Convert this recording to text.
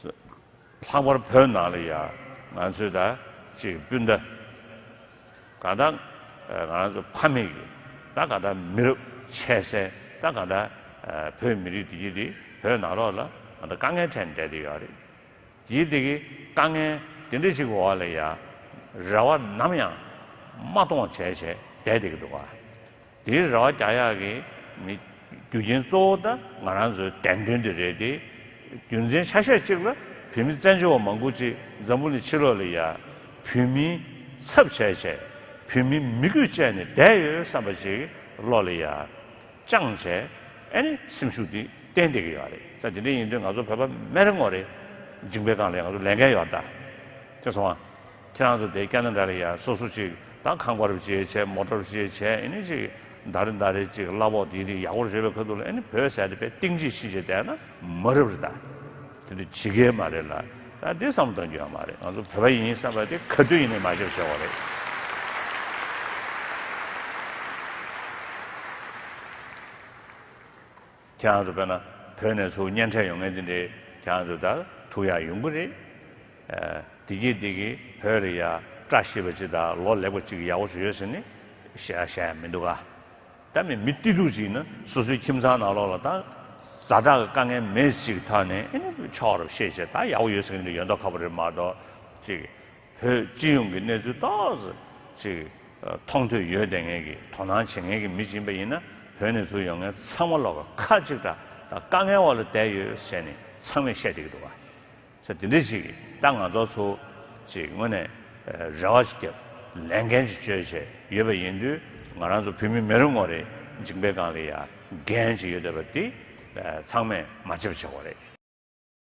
ལྷག་པར་བོད་ནང་ལ་ཡང་ང་ཚོས་ད་ཅིག་སྤུན་ཟླ་ག་ད་ང་ཚོ་ཕ་མེས་ཀྱི་ད་ག་ད་མི་རབས་ཆད་སའི་ད་ག་ད་བོད་མི་རིགས་འདི་འདི་བོད་ནང་ལོག་ལ་ང་ད་དཀའ་ངལ་འཕྲད་ནས་བསྡད་དེ་ཡོད་རེད། དེའི་དེ་གི་དཀའ་ངལ་དེ་འདྲ་ཅིག་གི་འོག་ལ་ཡང་རེ་བ་ནམ་ཡང་མ་སྟོང་བྱས་བྱས་བསྡད་དེ་གི་འདུག་ག། དེའི་རེ་བ་རྒྱ་ཡག་གི་མི། རྒྱུ་རྐྱེན་གཙོ་བོ་ད་ང་རང་ཚོའི་བདེན་དོན་དེ་རེད་དེ། རྒྱུ་མཚན་ཆ་ཤས་གཅིག་ལ་བུད་མེད་བཙན་བྱོལ་བ་མང་པོ་ཅིག་འཛམ་བུ་ནས་ཕྱི་ལོག་ལས་ཡ། བུད་མེད་ཚབ་བྱས་བྱས། བུད་མེད་མི་དགོས་བཅས་ནས་བསྡད་ཡོད་བསམ་པ་ཅིག་ལོག་ལས་ཡ། ཅང་བྱས། ཨེ་ནི་སེམས་ཤུགས་དེ་བསྟན་བསྡད་ཀྱི་ཡོད་རེད་ད་དེ་འདྲ་ཡིན་དུས་ང་ཚོ་བོད་པ་སྨན་རི་ངོ་རེ། འཇིང་པའི་སྒང་ལས་ང་ཚོ་ལས་འགན་ཡོད་ད། དེ་སོང་ང། ཁྱེད་རང་ཚོ་དེ་སྐད་ན་འདྲ་རེད་ཡ་སོ་སོ་ཅིག་ད་ཁང་པར་བྱེད་བྱེད་མོ་ཏོར་བྱེད་བྱེད་ཨེ་ནི་ཅིག་འདར་རེ་འདར་རེ་ཅིག་གླ་ཕོག་དེ་རིགས་ཡག་པོར་བྱེད་པའི་ཁ་ཐུག་ལ་ཨེ་ནི་བོད་ཟས་དེ་པེ་ཏིང་ཅིག་ཤི་བྱེད་བསྡད་ན་མ་རབ་རེད་ད་དེ་འདྲ་བྱེད་གི་མ་རེད་ལ་ད་དེ་བསམ་བློ་གཏོང་རྒྱུ་ཡང་མ་རེད་ང་ཚོ་བོད་པ་ཡིན་བསམ་པ་དེ་ག་དུས་ཡིན་ནས་མ་བྱེད་བྱེད་དགོས་རེད། ཁྱེད་རང་ཚོ་བོད་ན་བོད་ནས་ཚུར་གཉེན་འཕྲད་ཡོང་ངེས་དེ་འདྲའི་ཁྱེད་རང་ཚོ་དར་ཐུག་ཡག་ཡོང་གི་རེད། བདེ་སྐྱིད་བདེ་སྐྱིད་བོད་རེད་ཡ། བཀྲ་ཤིས་པ་ཅི་དང་ལོ་ལེགས་པ་ཅིག་ཡག་པོ་བྱོས་ཡོད་ཟེར་ནི་བཤད་ཡ་མི་འདུག་ག། ད་མི་མི་སྟེ་ལུག་ཅིག་ན་སོ་སོའི་ཁྱིམ་ཚང་ནང་ལོག་ལ་ད་ཟ་དྲག་གི་དཀའ་ངལ་མེད་ཅིག་ཐ་ནས་ཨེ་ནི་ཕྱོགས་ར་བཤད་བྱས་ད་ཡག་པོ་ཡོད་ཟེར་གི་འདུག་ཡོད་མདོག་ཁ་པོ་རེད་མ་གཏོགས་ཅིག་བོད་སྤྱི་ཡོངས་ཀྱི་གནས་ཚུལ་ཏོག་ཙམ་ཞིག་མཐོང་ཐོས་ཡོད་བསྡད་མཁན་གྱི་དོ་སྣང་བྱེད་མཁན་གྱི་མི་སྦྱིན་པ་ཡིན་ན་བོད་གནས་ཚུལ་ཡོང་མཁན་ཚང་མ་ལོག་ཁ་གཅིག་སྒྲ་དང་དཀའ་ངལ་འོག་ལ་བསྡད་ཡོད་ཞེས་ནི་ཚང་མས་བཤད་བསྡད་ཀྱི་འདུག་ས་དེ་འདྲས་ཞིག་ད་ང་ཚོ་ཚོ་ཞིག་སྔོན་ནས་རེ་བ་ཞིག་བརྒྱབ་ལན་འགན་ཅིག་བཅོལ་བྱས་ཡོད་པ་ཡིན་དུས་ང་རང་ཚོ་བོད་མི་མེ་རི་ངོ་རེ་འཇིག་འབེལ་སྒང་ལ་ཡ་འགན་ཅིག་ཡོད་བསྡད་པ་དེ་ཚང་མས་མ་འཇབ་ཆགས་བ་རེད།